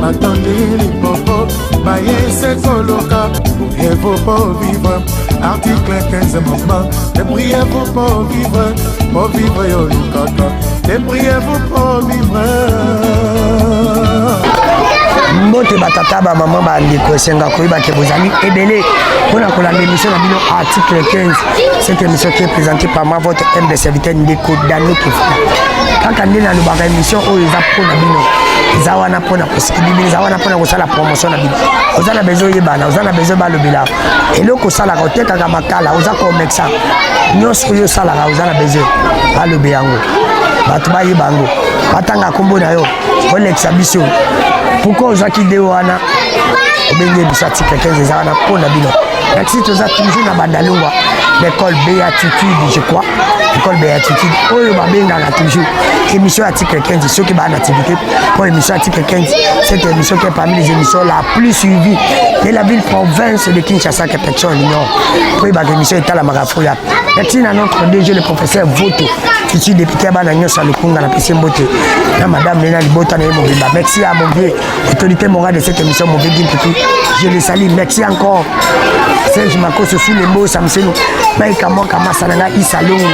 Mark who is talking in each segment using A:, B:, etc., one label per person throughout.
A: batondi lipopo baye se koluka priez-vous pour vivre article 15 mama te priez-vous pour vivre po vivre yo lukaka te priez-vous pour vivre
B: mbote batata bamama bandeko esenga koyeba ke bozali ebele mpo na kolanda émission na bino article 15 cette émission qui est présentée par ma votre mde serviteur ndeko dano kefuna kaka nde nalobaka émission oyo eza mpo na bino eza wana mpona kosikili bino eza wana mpona kosala promotion na bino oza na besoin oyebana oza na besoin balobela eloko osalaka otekaka makala oza komexa nyonso oyo osalaka oza na besoin balobe yango bato bayeba yango batanga nkombo na yo olekisa biso pourkoi ozwaki de wana obenge biso atika 15 eza wana mpo na bino Merci, toza toujours na bandalungwa l'école béatitude je crois l'école béatitude oyo babengaka toujours émission ya titre 15 soki baa na activité mpo émission ya titre 15 cette émission qui est parmi les émissions la plus suivie de la ville province de kinshasa que personne ignore mpo ebaka émission etalamaka fo ya merci na notre dg le professeur voto ici député ya bana nyonso ya lokunga na pesi mbote na madame nena libota na ye mobimba merci ya mon vieux Autorité morale de cette émission, Mauvais Gimpitou, je les salue. Merci encore. Serge Makoso, sous les mots, Samseno, Mike Amon, Kama Sananga, Issa Longo,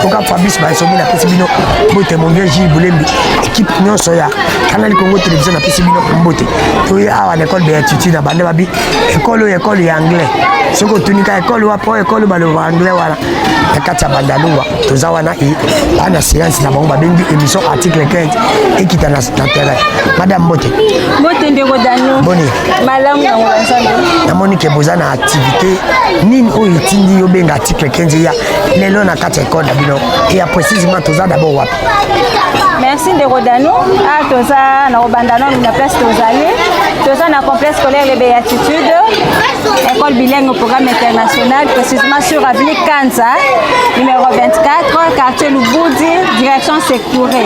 B: Koka Fabrice Bansomi, na Pesibino, Bote, mon vieux Gilles Boulembi, équipe Nyon Soya, Canal Congo Télévision, na Pesibino, Mbote. Toye awa na école Béatitude, na bande babi, école oyo école ya anglais. Soki otunika école wapo, école baloba anglais wana, na kati ya bandalungwa. toza wana e baa na séance na bango babengi émission article 15 ekita na terrain madame mbote mbote ndeko
C: dano boni malamu
B: yango na
C: nzambe namoni ke boza na
B: activité nini oyo etindi yo benga article 15 eya lelo na kati ya ekole na bino eya précisément toza d'abord wapi merci
C: ndeko dano a ah, toza na kobanda nano na place tozali toza na complexe scolaire les béatitudes école bilingue au programme international précisément sur avenue Kanza, numéro 24, quartier Lubudi, direction Sekouré.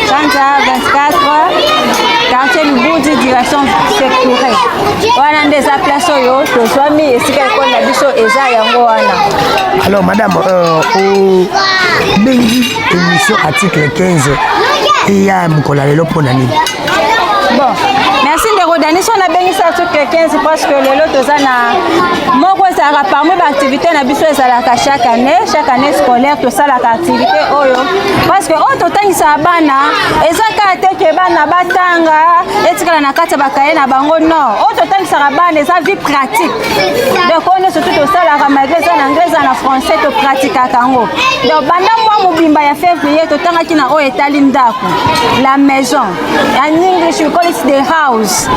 C: Kanza 24, quartier Lubudi, direction Sekouré. Wana nde eza place oyo tozwami esika ekolo na biso eza yango wana. Alors madame,
B: euh, obengi émission article 15 eya mokolo ya lelo mpo na nini?
C: merci ndeko dani so nabengisa tu quelqu'un parce que lelo toza na moko ezalaka parmi baactivité na biso ezalaka chaque année chaque année scolaire tosalaka activité oyo parce que oyo totangisaka bana eza kaka te ke bana batanga etikala na kati ya bakaye na bango non oyo totangisaka bana eza vie pratique donc oyo nyonso tu tosalaka malgré eza na anglais eza na français topratikaka yango donc banda mwa mobimba ya février totangaki na oyo etali ndako la maison en english we call it the house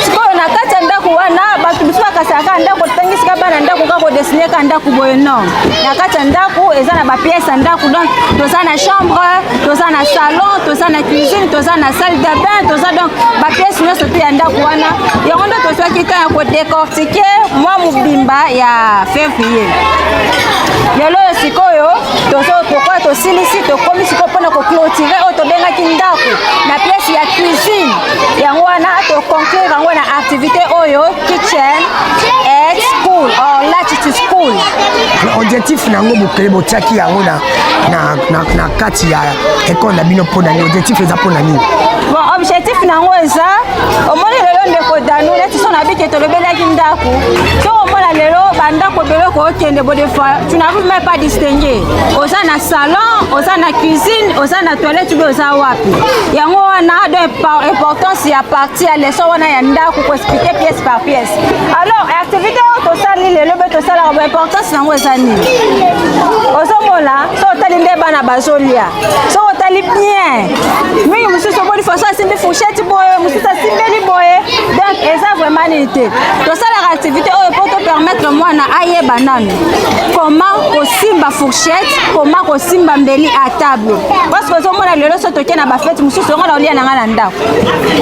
C: sikoyo na kati ya ndako wana bato mosusu bakasalaka ndako totangisika bana ndako kaka kodesine ka ndako boye non na kati ya ndako eza na bapiese ya ndako donc toza na chambre toza na salon toza na cuisine toza na salle de bain toza donc bapiese nyonso te ya ndako wana yango nde tozwaki ntan ya kodecortike mwa mobimba ya fevrier lelo oyo sikoyo tozo pourquoi tosilisi tokomi sikoyo mpona koclotire oyo tobengaki ndako na pièce ya cuisine yango wana toconclure yango na activité oyo kitchen et school or latitude school objectif
B: na yango bokele botiaki yango na, na, na, na kati ya ekole na bino mpo na nini objectif eza mpo na nini bon objectif
C: na yango eza omoni lelo ndeko danu neti so na bike tolobelaki ndako to omona lelo bandako ebele kokende bodefa tu n'arrives même pas distinguer oza na salon oza na cuisine oza na toilette obe oza wapi yango wana do importance ya partie ya leson wana ya ndako koexplike pièce par pièce alors activité oyo tosali lelo mpe tosalaka bo importance nango eza nini ozomona so otali nde bana bazolia so otali bien mingi mosusu omoni faso asimbi fourchette boye mosusu asimbeli boye donc eza vraiment nini te tosalaka activité oyo mpo topermettre mwana ayeba nano comment kosimba fourchette comment kosimba mbeli à table parce que ozomona lelo so toke na bafete mosusu yango na olia na ngai na ndako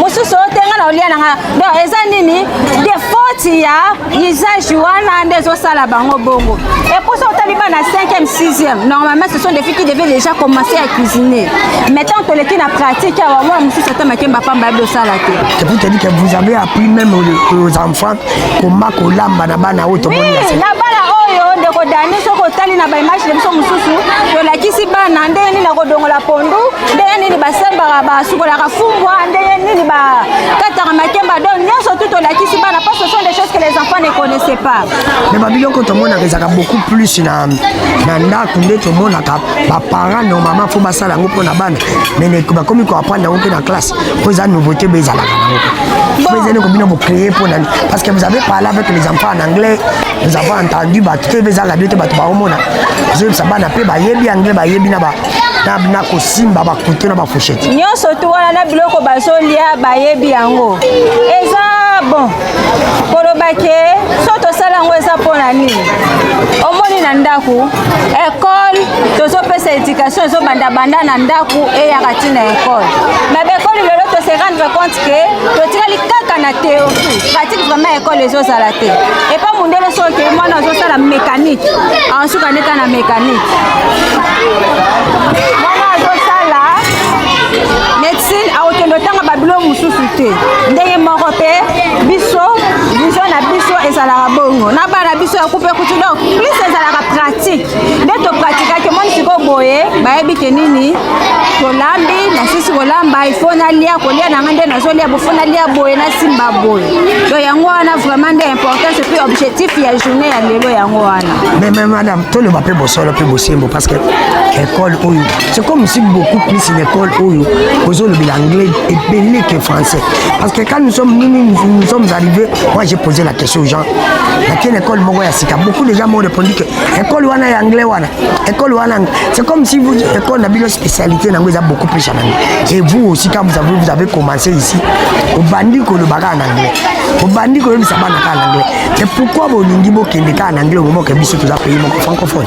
C: mosusu oyo te ngai na olia na ngai donc eza nini defoti ya usage wana nde ezosala bango bongo eposa otali bana 5e 6e normalement ce sont des filles qui devaient déjà commencer à cuisiner maintenant toleki na pratique awa mwana mosusu ata makemba pamba yabi osala te vous
B: avez appris même aux enfants koma kolamba na bana oyo tomoni na bana
C: oyo ndeko dani soki otali na baimage na biso mosusu tolakisi bana ndenge nini akodongola pondu ndenge nini basembaka basukolaka fumbwa ndenge nini bakataka makemba don nyonso tu tolakisi bana parce que sont des choses que les enfants ne connaissaient pas mais babiloko
B: tomonaka ezalaka beaucoup plus na ndako nde tomonaka baparent no mama fo basala yango mpo na bana mais bakomi koaprendre yango mpe na classe mpo eza nouveauté bo ezalaka nango ezali kobino bocreye mpo nani parce que vous avez parlé avec les enfants en anglais nous avons entendu bato te eza radio te bato baomona ozoyebisa bana mpe bayebi anglais bayebi na ba na kosimba bakutu na bafushete nyonso tu wana na
C: biloko bazolia bayebi yango eza bon koloba ke so tosala yango eza mpo na nini omoni na ndako ekole tozopesa education ezobandabanda na ndako eyaka ti na ekole na bekoli lelo tose rendre compte ke totikali kaka na théorie pratique vraiment ekole ezozala te epa mondele soki mwana azosala mécanique ansuka ndeka na mécanique Sin akokende otanga babilo mosusu te ndenge moko mpe biso vision na biso ezalaka bongo na bana biso ya kupe kutu donc plus ezalaka pratique nde topratikaki omoni sikoyo boye bayebi ke nini tolambi nasisi kolamba ifo nalia kolia na ngai nde nazolia bofo nalia boye nasimba boye to yango wana vraiment nde importance mpe objectif ya journée ya lelo yango wana mais madame
B: toloba mpe bosolo mpe bosembo parce que ekole oyo c'est comme si beaucoup plus une école oyo ozolobela anglais ebele que français parce que quand nous sommes nous, nous, nous sommes arrivés moi j'ai posé la question aux gens nakende école moko ya sika beaucoup de gens m'ont répondu que école wana ya anglais wana école wana c'est comme si vous école na bino spécialité nango eza beaucoup plus ya nango et vous aussi quand vous avez, vous avez commencé ici obandi koloba kaka na anglais obandi koyebisa bana kaka na anglais te pourquoi bolingi bokende kaka na anglais omomoke biso toza pays moko francophone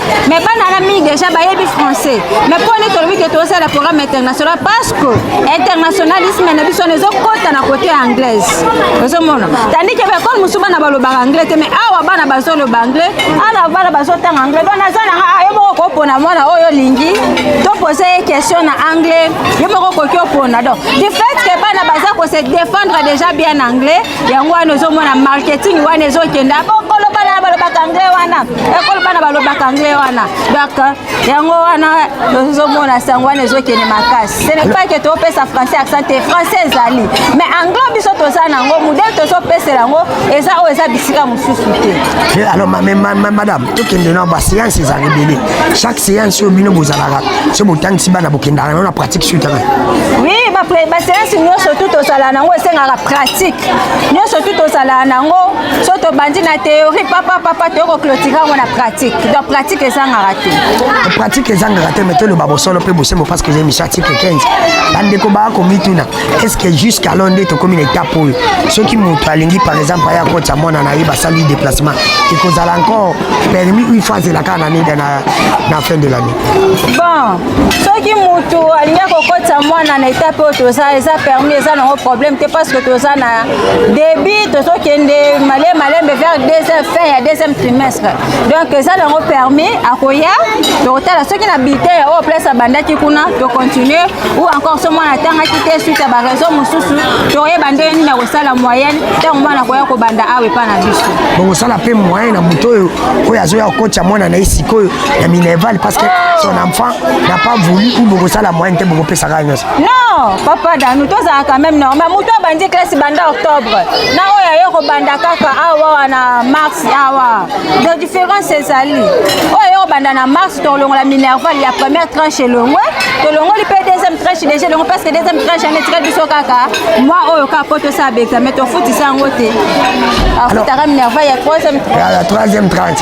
C: me bana na mingi deja bayebi français me mpo nini tolobi ke tozosala programme international parce que internationalisme na biso wana ezokota na kote ya anglaise ozomona tandi ke baekole mosusu bana balobaka anglais te me awa bana bazoloba anglais ana bana bazotanga anglais don naza nanga ah, yo moko kopona mwana oyo olingi topose ye question na anglais yo moko okoki opona don du fait ke bana baza kose défendre déjà bien anglais yango wana ozomona marketing wana ezokenda bokoloba na balobaka anglais wana ekolo bana balobaka anglais wana donc yango wana tozomona sango wana ezokende makasi ce n'est pas que topesa français accent te français ezali mais anglais biso toza nango modele tozopesela yango eza oyo eza bisika mosusu te eh, alors
B: madame tokende na baséance eza ebele chaque séance oyo bino bozalaka so botangisi bana bokendaka yango na pratique suite oui
C: baséance nyonso tu tozala nango esengaka pratique nyonso tu tozala nango so tobandi na théorie papa papa toyei koclotire yango na pratique donc pratique ezangaka te pratique ezangaka te mai
B: toloba bosolo mpe bosembo parce que eza émission article 15 bandeko baa komituna est ce que jusqu'alors nde tokomi na étape oyo soki moto alingi par exemple aya kotya mwana na ye basali déplacement ekozala encore permis une fois azela kaka na nida na fin de l'année bon
C: soki moto alingi akokotisa mwana na étape oyo toza eza permis eza nango problème te parce que toza na début tozokende male malembe vers deuxième fin ya deuxième trimestre donc eza nango permis akoya tokotala soki na bite ya oyo place abandaki kuna tocontinue ou encore so mwana atangaki te suite ya baraison mosusu tokoyeba ndenge nini akosala moyenne ntango mwana akoya kobanda awa epai na biso bongosala mpe moyen
B: na moto oyo oyo azoya kokotya mwana na ye sikoyo ya minerval parce que son enfant n'a pas voulu ou bokosala moyen te bokopesaka nyonso Non, papa Danou,
C: tozala quand même normal. Moto abandi classe banda octobre. Na oyo ayo kobanda kaka awa na mars awa. De différence ezali. Oyo ayo kobanda na mars tolongola minerval ya première tranche elongwe. Tolongoli mpe deuxième tranche déjà elongwe parce que deuxième tranche ane etikali biso kaka mwa oyo kaka mpo tosala baexamen tofutisa yango te. Afutaka minerval ya troisième tranche. Ya troisième
B: tranche,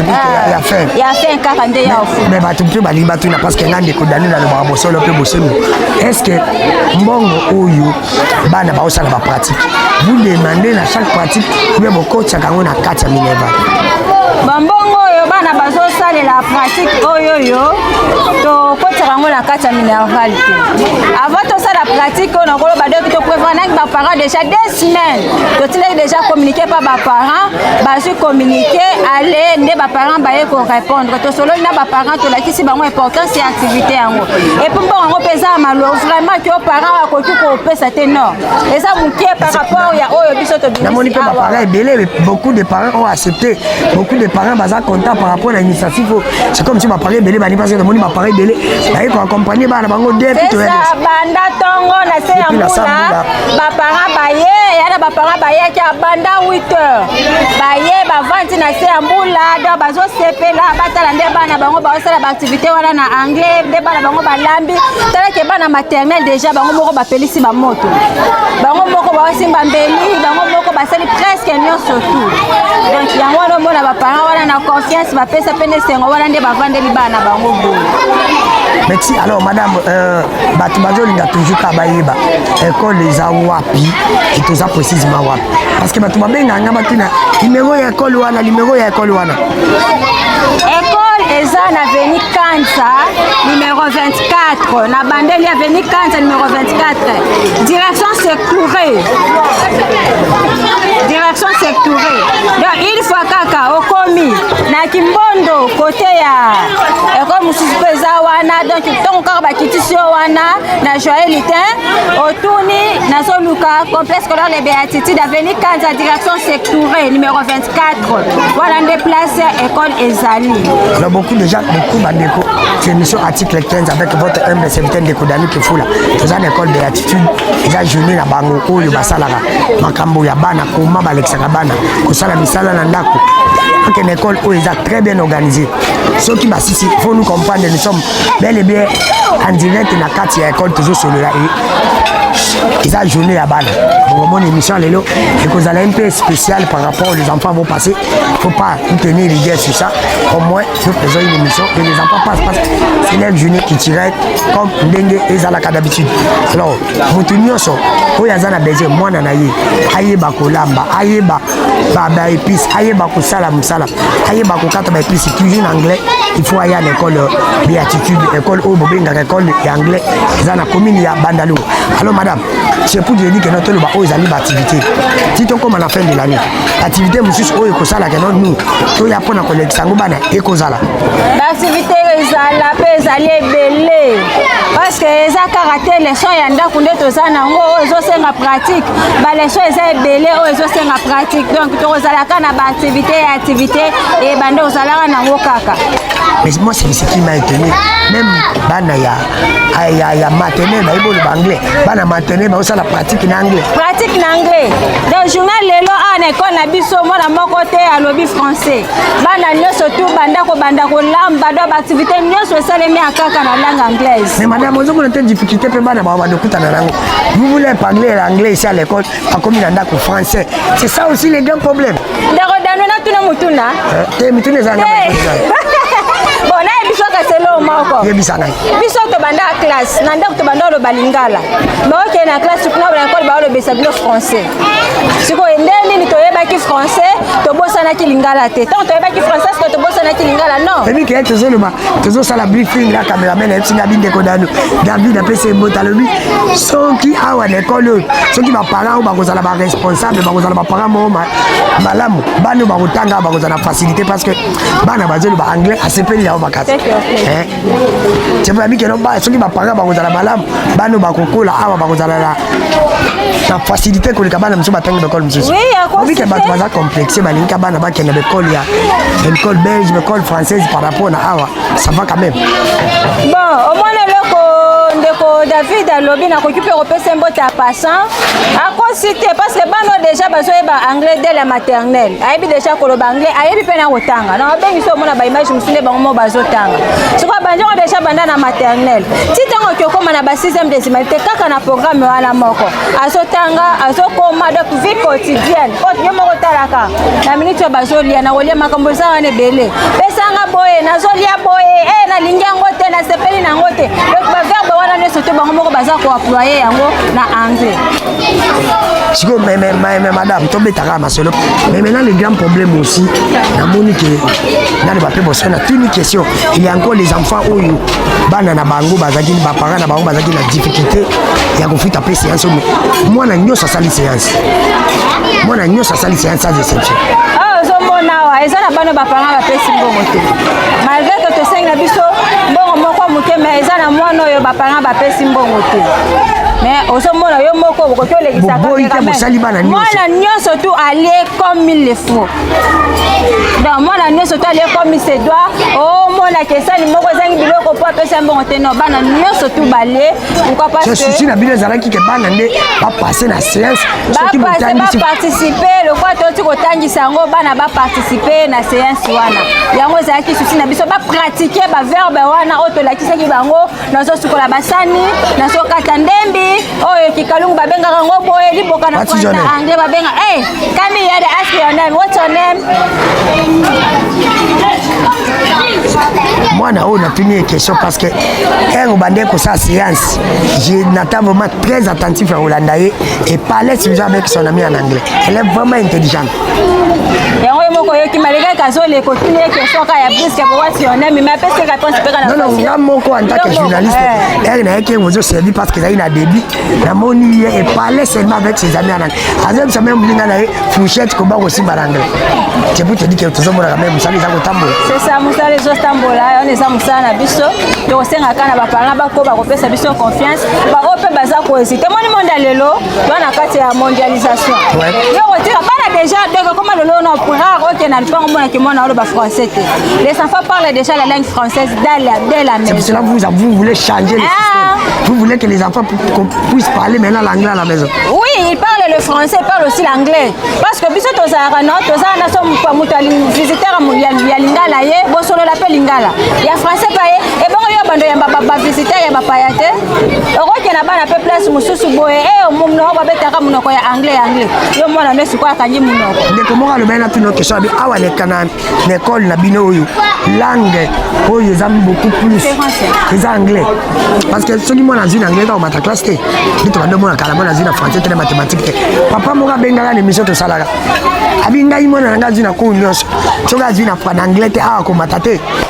B: ya fin. Ya fin kaka nde
C: ya ofuta. Mais bato mpe balingi batuna
B: parce que nga ndeko Danou nalobaka solo mpe bosembo estce mbongo oyo bana baosala bapratique vous demande na chaque pratique oubien bokotiaka yango na kati ya minerval bambongo
C: oyo bana bazosalela pratique oyo yo tokotiaka yango na kati ya minerval te avant tosala pratique oyo nakoloba doki toprevanaki baparent déjà deux semaines totindaki déjà communiqué mpa baparent bazwi communiqué ale nde baparent baye korépondre tosololi na baparent tolakisi si bango importance ya activité yango epuis mpo yango mpe eza ya malo vraiment ke parent akoki kopesa te non eza moke par rapport ya oyo biso tobinamoni mpe baparent ebele
B: beaucoup de parents ont accepté beaucoup de parents baza content par rapport na initiative oyo c'est comme si baparent ebele bani parce que namoni baparent ebele baye koaccompagne bana bango de banda
C: ntongo na se ya mbula baparent baye yana baparent bayaki abanda 8 heures baye bavandi na se ya mbula do bazosepela batala nde bana bango baosala baaktivité wana na anglais nde bana bango balambi talake bana maternel déjà bango moko bapelisi bamoto bango moko baosimba mbeli bango moko basali presque nyonso tout donc yango wana omona baparent wana na confiance bapesa mpe nde sengo wana nde bavandeli bana bango boye meti
B: alors madame euh, bato bazolinga toujours ka bayeba ekole eza wapi etoza précisement wapi parce que bato babengaka nga batuna limero ya ekole wana limero ya ekole wana
C: eza na veni kansa numero 24 na bandeli ya veni kansa numero 24 direction sectoure direction sectoure donc une fois kaka okomi na kimbondo kote ya ekole mosusu mpe eza wana donc ntongo kaka bakitisi yo wana na joye litin otuni nazoluka complexe scolaire de beatitude aveni kanza direction sectoure numero 24 wana nde place école ezali alors beaucoup déjà
B: beaucoup bandeko c'est émission article 15 avec votre humble serviteur ndeko dani kifula toza na école beatitude eza journée na bango oyo basalaka makambo ya bana koma balekisaka bana kosala misala na ndako akende école oyo eza très bien organisé soki basisi faut nous comprendre nous sommes bel et bien en direct na kati ya école tozosolola ye eza journée ya bana bokomona émission lelo ekozala mpe spécial par rapport les enfants vont passer faut pas tenir rigueur sur ça au moins nous faisons une émission et les enfants passent parce que c'est leur journée culturelle comme ndenge ezalaka d'habitude alors moto nyonso oyo aza na besoin mwana na ye ayeba kolamba ayeba ba épices ayeba kosala mosala ayeba kokata ba épices cuisine anglais il faut aya na école béatitude école oyo bobengaka école ya anglais eza na commune ya bandalou alors madame c'est pour dire que notre loba oyo ezali baactivité ti tokóma na fin de l'année activité mosusu oyo ekosalaka no nous toya mpo na kolekisa yango bana ekozala baactivité
C: ezala mpe ezali ebele parce que eza kaka te leson ya ndako nde toza na yango oyo ezosenga pratique baleso eza ebele oyo ezosenga pratique donc tokozalaka na baaktivité ya activité ebande ozalaka nango kaka mais moi
B: c'est ce qui m'a étonné même bana ya ya, ya maternel bayebi oloba anglais bana maternel baosala pratique na anglais pratique na anglais
C: donc journal lelo awa na ekole na biso mwana moko te alobi français bana nyonso tu banda kobanda kolamba do baaktivité nyonso esalemi ya kaka na langue anglaise mais madame ozomona te
B: difficulté mpe bana bawa bandokutana nango Vous voulez un anglais, l'anglais ici à l'école, pas comme il en a français. C'est ça aussi le grand problème. D'accord, dans le tout
C: le monde, tout le monde. Tu
B: es mis
C: tous les anglais. selo moko yebisa ngai biso
B: tobanda
C: classe na ndako tobanda oloba lingala baokende na classe kuna na ekole baolobesa bino français sikoyo nde nini toyebaki français tobosanaki lingala te ntango toyebaki français sikoyo tobosanaki lingala non ebike ye tozoloba
B: tozosala briefing na cameraman ayebisi nga bindeko nanu david apesi embota alobi soki awa na ekole oyo soki baparent oyo bakozala baresponsable bakozala baparent moko malamu bana oyo bakotanga bakozala na facilité parce que bana bazoloba anglais asepeli yango makasi Tshembo ya mikeno ba soki bapanga bakozala malamu bano bakokola awa bakozala na na facilité koleka bana mosusu batangi baekole mosusu obike bato
C: baza complexe
B: balingika bana bakenda baekole ya baekole belge baekole française par rapport na awa ça va quand même
C: bon
B: omona
C: eloko
B: ndeko
C: david alobi nakoki mpe kopesa mbote ya passant akosi te parce que bano déjà bazoyeba anglais dès la maternelle ayebi déjà koloba anglais ayebi mpe na kotanga na babengisi omona baimage nde bango mo bazotanga soki abandi yango deja banda na maternel ti ntango oki okóma na ba 6ème désimalite kaka na programme wana moko azotanga azokóma donc vie quotidienne oyo yo moko otalaka na minute oyo bazolia na kolia makambo eza wana ebele pesanga boye nazolia boye e eh, nalingi yango te nasepeli na yango te donc baverbe wana nyonso te bango moko baza koaploye yango na anglais
B: sikoyo madame tobetaka masolo mais maintenant le grand problème aussi namoni ke nani bape bosana natuni question il y a encore les enfants oyo bana na bango bazalaki baparent na bango bazalaki na difficulté ya kofuta mpe séance oyo mwana nyonso asali séance mwana nyonso asali séance sans exception ah, ozomona
C: awa eza na bana baparent bapesi mbongo te malgré que tosengi na biso mbongo moko moke mais eza na mwana oyo baparent bapesi mbongo te mais ozomona yo moko okoki olekisaka mwana nyonso tu alie comme mille fois donc mwana nyonso to alie komi se doit omona kesani moko ezangi biloko mpo apesa mbongo te no bana nyonso tu balie susi na bino ezalaki ke
B: bana nde bapasse na séance baparticipe
C: lokola toti kotangisa yango bana baparticipe na séance wana yango ezalaki susi na biso bapratike baverbe wana oyo tolakisaki bango nazosukola basani nazokata ndembi oyo oh, kikalungu babengaka yango boye liboka na français na anglais babenga hey, eh, kami ya the ask your name what's your name
B: mwana oyo natuni ye question parce que ere obandaki kosala séance nata vraiment très attentif ya kolanda ye et parlait toujours avec son ami en anglais elle est vraiment intelligente yango
C: ye moko yoki malika kazoli ekotuni ye question ka ya briske bowasi yo nemi me apesi réponse mpe kana non nga moko en tant que
B: journaliste ere na ye ke ozo servi parce que ezali na débit namoni ye et parler seulement avec ses amis en anglais azobisa meme moninga na ye fourchette koba kosimba na anglais c'est pour te dire que tozomonaka meme mosala eza kotambola c'est ça mosala
C: ezotambola wana eza mosala na biso tokosengaka na baparent bakoba kopesa biso confiance baoyo mpe baza kohésite moni monde ya lelo toa na kati ya mondialisation yo kotika bana déjà donc ekoma lelo na rare oke na lipango mona kimona oloba français te les enfants parlent déjà la langue française dès la, dès la maison cela vous, vous voulez
B: changer le ah. système vous voulez que les enfants puissent parler maintenant l'anglais à la maison oui ils parlent le
C: français ils parlent aussi l'anglais parce que biso tozalaka no tozala na so moto visiteur ya lingala ye bosolola mpe lingala ya français pa ye ebongo yo bando yamba bavisiteur ya bapaya te okokende na bana mpe place mosusu boye e eh, monoko babetaka monoko ya anglais ya anglais yo mwana no esikoyo akangi monoko ndeko moko alobeli na tino
B: question abi awa leka na ekole na bino oyo langue oyo eza beaucoup plus eza anglais parce que soki mwana azwi na anglais kaka omata classe te bito bando mwana kala mwana azwi na français te na mathématique te papa moko abengaka na émission tosalaka abi ngai mwana na ngai azwi na cour nyonso soki azwi na anglais te awa komata te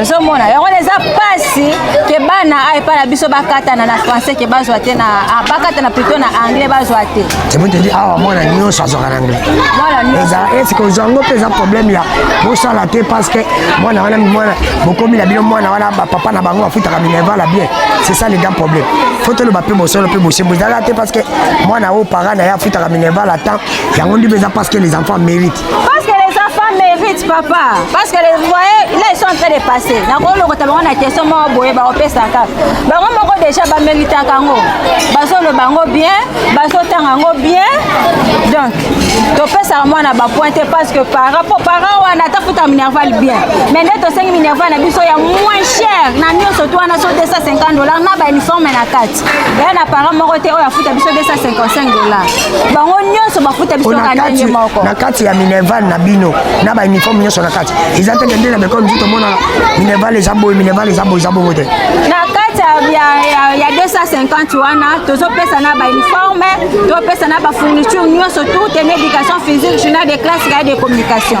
C: ozomona yango wana eza mpasi ke bana aepa na biso bakatana na français ke bazwa te na ah, bakatana plutot na anglais bazwa te ceboteli awa
B: mwana nyonso azwaka na anglais eza eske ozwa yango mpe eza problème ya bosala te parce que mwana wana mwana bokomi na bino mwana wana bapapa na bango bafutaka minervala bien c'est ça le grand problème fo toloba mpe bosolo mpe bosembo ezalaka te parce que mwana oyo para na ye afutaka minervala temps yango ndi mpe eza parce que les enfants mérite Parce que les enfants
C: méritent, papa. Parce que les voyez, là, ils sont en train de passer. Na ko loko tabanga na question mo boye ba opesa ka. Ba ngo moko déjà ba mérite kango. Ba zo le bango bien, ba zo tanga ngo bien. Donc, topesaka mwana bapointe parce que par rapport parent wana atafuta minerval bien mais nde tosengi minerval na biso ya moins cher na nyonso to wana so 250 dollar na bauniforme na kati eya na parent moko te oyo afuta biso 255 dola bango nyonso bafuta biso kaka ndenge moko na kati ya minerval
B: na bino na bauniforme nyonso na kati eza te kende na bekole mosusu tomonaka minerval eza boye minerval eza boye eza bongo te na kati
C: ya 250 wana tozopesa na bauniforme topesa na bafourniture nyonso tout en éducation physique journal de classe gaye de communication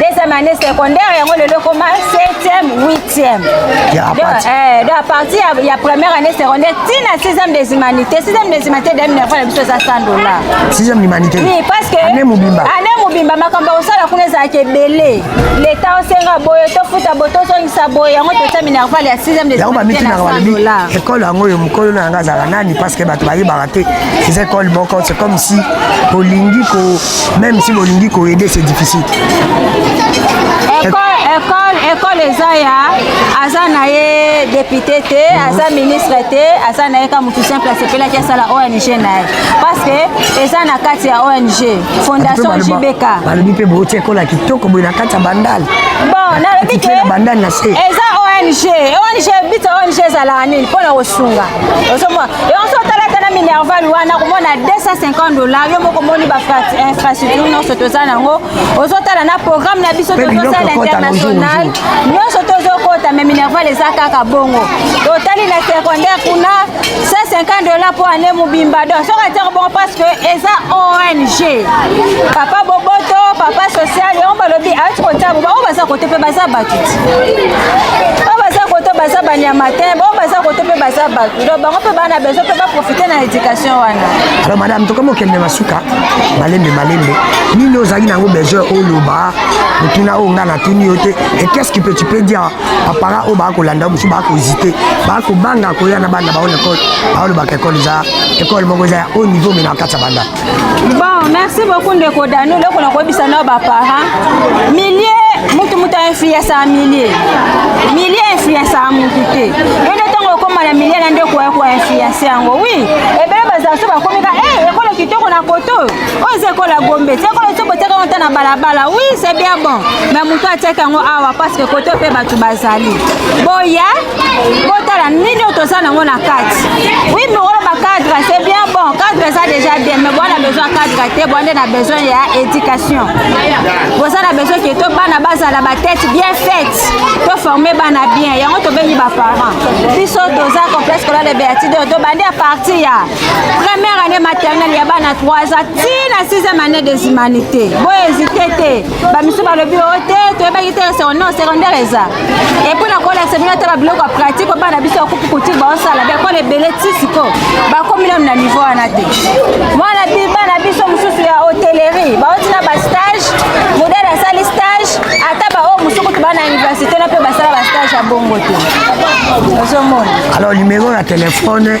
C: deuxième année secondaire yango lelo ekoma septième huitième eh, donc à partir ya première année secondaire ti na sixième des humanités sixième des humanités de minerval na biso eza 100 dollar sixième
B: humanité oui parce que année
C: mobimba année
B: mobimba makambo ya
C: kosala kuna ezalaka ebele leta osenga boye tofuta boye tozongisa boye yango totia minerval ya sixième des humanités na 100 dollar ekole yango oyo mokolo
B: na yango azala nani parce que bato bayebaka te eza ekole moko c'est comme si olingi ko Même si bolingi ko aider c'est difficile. École,
C: école, école eza ya aza na ye député te, aza ministre te, aza na ye ka mutu simple asepelaki asala ONG na ye. Parce que eza na kati ya ONG, Fondation JBK. Balobi pe bo tie
B: kola kitoko boye na kati ya bandal. Bon, na lobi
C: ke bandal na se. Eza
B: ONG,
C: ONG bito ONG ezalaka nini pona kosunga. ozomona yonso otala ata na minerval wana komona 250 dollar yo moko omoni bainfrastructure nyonso toza nango ozotala na programme na biso tozosala international nyonso tozokota me minerval eza kaka bongo totali na secondaire kuna 150 dollar mpo ane mobimba don soki atero bongo parce que eza ong papa boboto papa social yango balobi ayoki kotaboba oyo baza kote mpe baza bato ti oyo baza koto baza banyama te bao baza koto mpe baza bato donc bango mpe bana bezo mpe baprofite na éducation wana alors madame tokomi
B: okende na suka malembe malembe nini ozalaki nango besoin oloba motuna oyo ngai natuni yo te et qu'est ce que tu peux dire bapara oyo baa kolanda mosusu baa kohésite baa kobanga koya na bana baona ekole baolobaka ekole eza ekole moko eza ya haut niveau mena kati ya banda Bon, merci
C: beaucoup ndeko Dano, loko na koyebisa na ba parents. Milieu mutu mutu influence ya milieu. Milieu influence ya mutu te. Yende tongo okoma na milieu na ndeko ya ko influence yango. Oui, ebele bazala so bakomi ka eh ekolo kitoko na koto. Oyo eza ekola Gombe, eza ekola so boteka wanta na balabala. Oui, c'est bien bon. Mais mutu atiaka yango awa parce que koto pe batu bazali. Boya botala nini oyo toza nango na kati wi mokolo bacadre se bien bon cadre eza déjà bien mais bwana besoin cadre te bwa nde na besoin ya éducation boza na besoin ke to bana bazala batete bien faite toforme bana bien yango tobengi baparent biso toza complexe kola de beatide oyo tobandi ya parti ya première année maternelle ya bana 3 ans ti na 6e année des humanités bohésite te bamisusu balobi o oh, te toyebaki te secondaire secondaire eza epui na kolakisa bino ata babiloko ya pratique oyo bana biso ya kupu kutire baosala baekole ebele ti siko bakomi nanu na niveau wana te mwana bana biso mosusu ya hotellerie baoti na bastage modele asali stage ata baoyo oh, mosusu kutu bana université na mpe basala bastage ya bongo te ozomona alors numero
B: ya telefone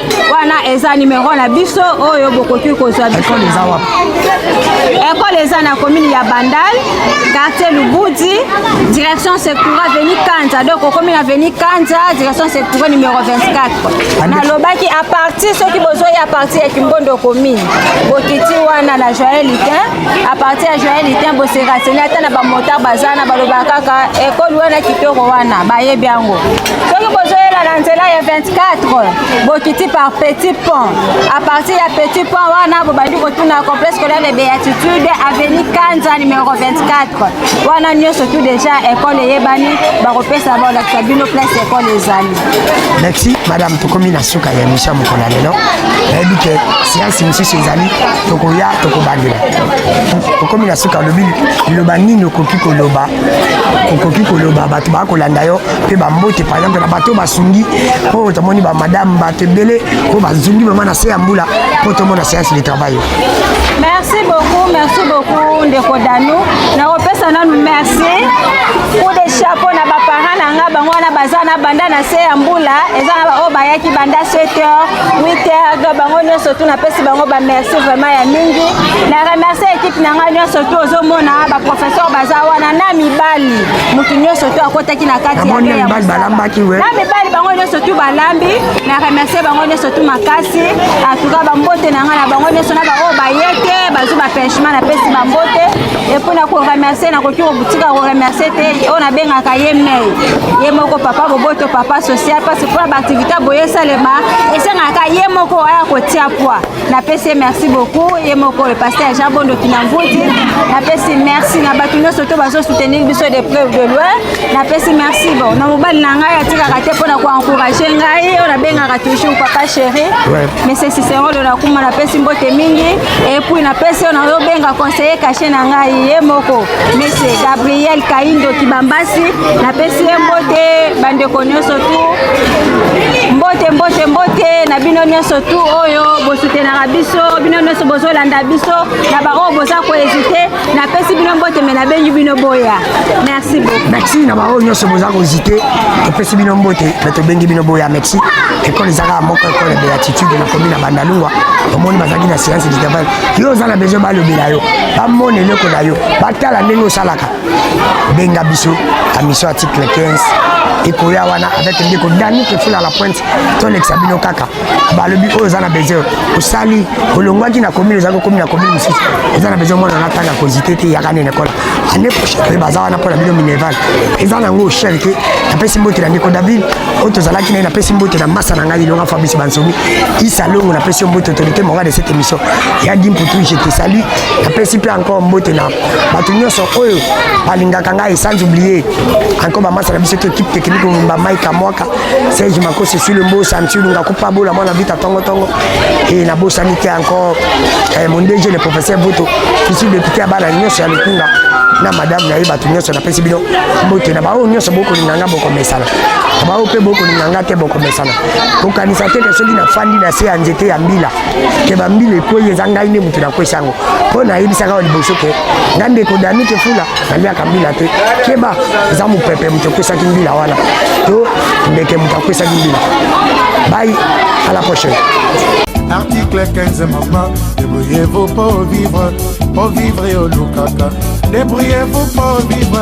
C: wana eza numero na biso oyo bokoki kozwa bikole eza wapi ekole eza na komini ya bandal quartier lubudi direction sectura veni kanza donc okomi na veni kanza direction sectura numero 24 nalobaki a partir soki bozoi a partir ya kimbondo komini bokiti wana na joyel litin a partir ya joyel litin boseraseni ata na bamotar baza na balobaka kaka ekole wana kitoko wana bayebi yango soki bozoyela na nzela ya 24 bokiti par petit pont à partir ya petit pont wana bobandi kotuna complexe scolaire de béatitude avenue kanza numero 24 wana nyonso tout déjà école eyebani bakopesa balakisa bino place école ezali merci
B: madame tokomi na suka ya emission mokolo ya lelo nayebi ke siansi mosusu ezali tokoya tokobandela tokomi na suka olobi liloba nini okoki koloba okoki koloba bato bakolanda yo mpe bambote par exemple na bato oyo basungi oyo tomoni bamadame bato ebele oyo bazungi vraimen na se ya mbula mpo tomona séance de travail merci
C: beaucoup merci beaucoup ndeko danu nakopesa nanu merci coup de chapeau na baparent na nga bango wana baza na banda na se ya mbula eza na baoyo bayaki banda 7 heures 8 heures do bango nyonso tu napesi bango bamerci vraiment ya mingi na remercie ekipe na ngai nyonso tu ozomona baprofesseur baza wana na mibali moto nyonso to akotaki na kati ya ya mibali balambaki we
B: na mibali bango nyonso
C: tu balambi na remercie bango nyonso tu makasi atuka bambote na ngai na bango nyonso na baoyo baye te bazwi bapenchement napesi bambote epo na koremercie nakoki kotika koremercie te oyo nabengaka ye mei ye moko papa boboto papa social parce mpo na baaktivité boye esalema esengaka ye moko aya kotia poi napesi ye merci beaucoup ye moko le pasteur jean bondo kinamvuti napesi merci na bato nyonso to bazosoutenir biso de preuve de loin napesi merci bon na mobali na ngai atikaka te mpo na koencourage ngai oyo nabengaka toujours papa chéri monsieur cicerolo nakuma napesi mbote mingi epuis napesi oyo nazobenga conseiller cache na ngai ye moko Monsieur Gabriel Kaindo Kibambasi, napesi ye mbote bandeko nyonso tu mbote mbote mbote na bino nyonso tu oyo bosutenaka biso bino nyonso bozolanda biso na baoyo boza koezite napesi bino mbote me nabengi bino boya merci beaucoup merci na baoyo nyonso
B: boza koezite topesi bino mbote me tobengi bino boya merci ekole ezaka moko ekole beatitude na komi na bandalungwa omoni bazalaki na science du travail yo oza na besoin balobela yo bamona eleko na yo batala ndenge osalaka benga biso na mission article 15 ekoya wana avec ndeko dani kefula la pointe tolekisa bino kaka balobi oyo oza na besoin osali olongwaki na commune ozali kokomi na commune mosusu oza na besoin mwana natanga kozite te yaka nene kola ane prochain mpe baza wana mpo na bino minerval eza na yango shere te napesi mbote na ndeko david oyo tozalaki naye napesi mbote na masa na ngai ilonga fabrice bansomi isa longo napesi yo mbote autorité morale de cette émission ya dimputu je te salut napesi mpe encore mbote na bato nyonso oyo balingaka ngai sans oublier encore bamasa na biso to équipe technique mobimba maika mwaka serge makosi sule mbosa msilunga kupa bola mwana vita tongotongo e nabosani te encore eh, mon dg le professeur boto isu depute ya bana nyonso ya lokunga na madame na ye bato nyonso napesi bino mbote na baoyo nyonso bokolinga nga bokomesana bao mpe bokolinga nga te bokomesana kokanisa te ke soki nafandi na se ya nzete ya mbila ke bambila ekwei eza ngai nde moto nakwesi yango mpo nayebisaka wa liboso ke nga ndeko dani kefula naliaka mbila te keba eza mopepe moto ekwesaki mbila wana to ndeke moto akwesaki mbila bai à la prochaine article
A: 15 mama debrouillez-vous pour vivre pour vivre olukaka debrouillez-vous pour vivre